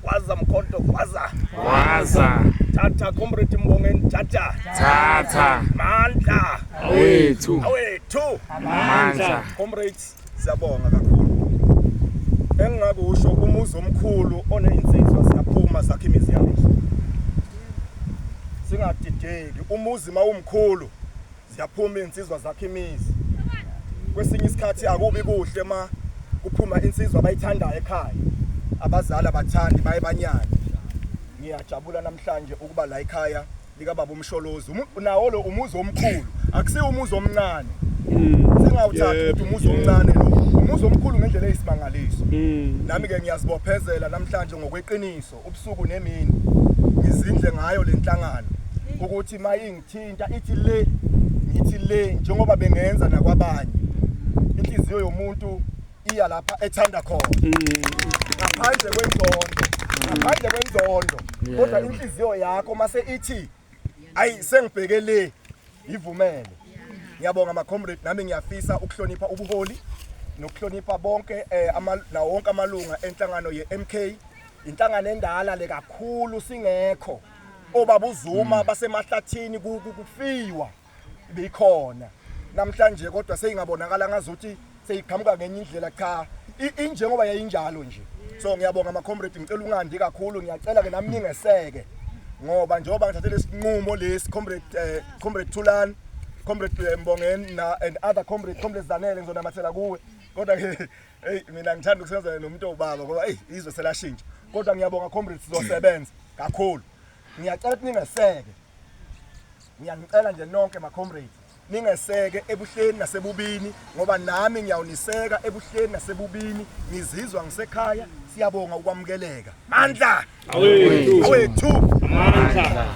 Gwaza mkhonto gwaza. Gwaza. Thatha comrade Mbongeni thatha. Thatha. Mandla. Awethu. Awethu. Mandla. Comrades siyabonga kakhulu. Engingakusho umuzi omkhulu oneinsizwa siyaphuma sakhe imizi yazo. Singadideki umuzi mawumkhulu. Ziyaphuma izinsizwa zakhe imizi. Kwesinye isikhathi akubi kuhle ma kuphuma insizwa abayithandayo ekhaya. Abazali abathandi baye banyane. Ngiyajabula namhlanje ukuba la ekhaya lika baba umsholozi. Nawo lo umuzi omkhulu, akusiwe umuzi omncane. Singawuthatha ukuthi umuzi omncane lo. Umuzi omkhulu ngendlela eyisimangaliso. Mm. Nami ke ngiyazibophezela namhlanje ngokweqiniso ubusuku nemini. Ngizindle ngayo lenhlangano ukuthi maying thinta ithi le ngithi le njengoba bengenza nakwabanye inhliziyo yomuntu iya lapha ethanda khona ngaphandle kwenzondo ngaphandle kwenzondo kodwa inhliziyo yakho mase ithi ayi sengibheke le yivumele ngiyabonga ama comrade nami ngiyafisa ukuhlonipha ubuholi nokuhlonipha bonke eh, nawo wonke amalunga enhlangano ye-MK inhlangano endala le kakhulu singekho obaba uZuma mm. basemahlathini kufiwa bikhona namhlanje kodwa seyingabonakala ngazothi seyiqhamuka ngenye indlela cha injengoba yayinjalo nje so ngiyabonga ama comrade ngicela ungandi kakhulu ngiyacela ke nami ningeseke ngoba njengoba ngithathele isinqumo lesi comrade eh, comrade Thulani comrade eh, Mbongeni na and other comrade comrade Zanele ngizonamathela kuwe kodwa ke Hey mina ngithanda ukusebenzela nomuntu obaba ngoba hey izwe selashintsha. Kodwa ngiyabonga comrades sizosebenza kakhulu. Ngiyacela ukuthi ningeseke. Ngiyanicela nje nonke ma comrades ningeseke ebuhleni nasebubini ngoba nami ngiyawuniseka ebuhleni nasebubini ngizizwa ngisekhaya siyabonga ukwamukeleka mandla awethu amandla